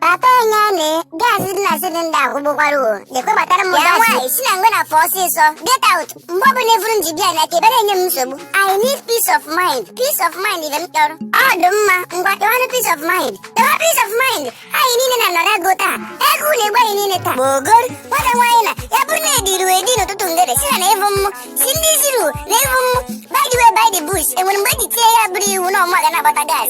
Papa Enyane, gas dị na cylinder akwụgbukwara o. Jekwe gbatara mụ gas. nwaanyị si na ngwe na fụọ ọsịsọ. Get out. Mgbe ọbụla efuru m ji bịa na ka ebere enye m nsogbu. I need peace of mind. Peace of mind ihe m chọrọ. Ọ dị mma. Ngwa kewanụ peace of mind. Kewa peace of mind. Anyị niile na-anọrọ agụụ taa. Agụụ na-egbu anyị niile taa. Gbogor. Nwata nwaanyị na ya bụrụ na e ziri gị ezi n'ụtụtụ ngere sị ha na ị hụghị mụ. Sị ndị ziri gị na ị hụghị mụ. By the way, by the bush. Enwere mgbe eji tie ya bụrụ iwu na ọ mụ ga na-agbata gas.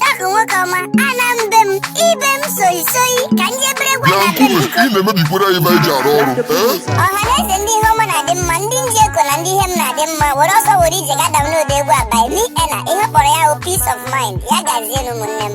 Dọkụ nwoke ọma, ana m be m, ibe m soyi soyi, ka ndị ebere gwa na be m biko. ị na-emebikwara anyị ebe anyị ji arụ ọrụ ee Ọhaneze ndị ihe ọma na-adị mma, ndị m ji eko na ndị ihe m na-adị mma, were ọsọ were ije ga download egwu a by me Ena, ihe a kpọrọ ya bụ peace of mind, ya gazienụ ụmụnne m.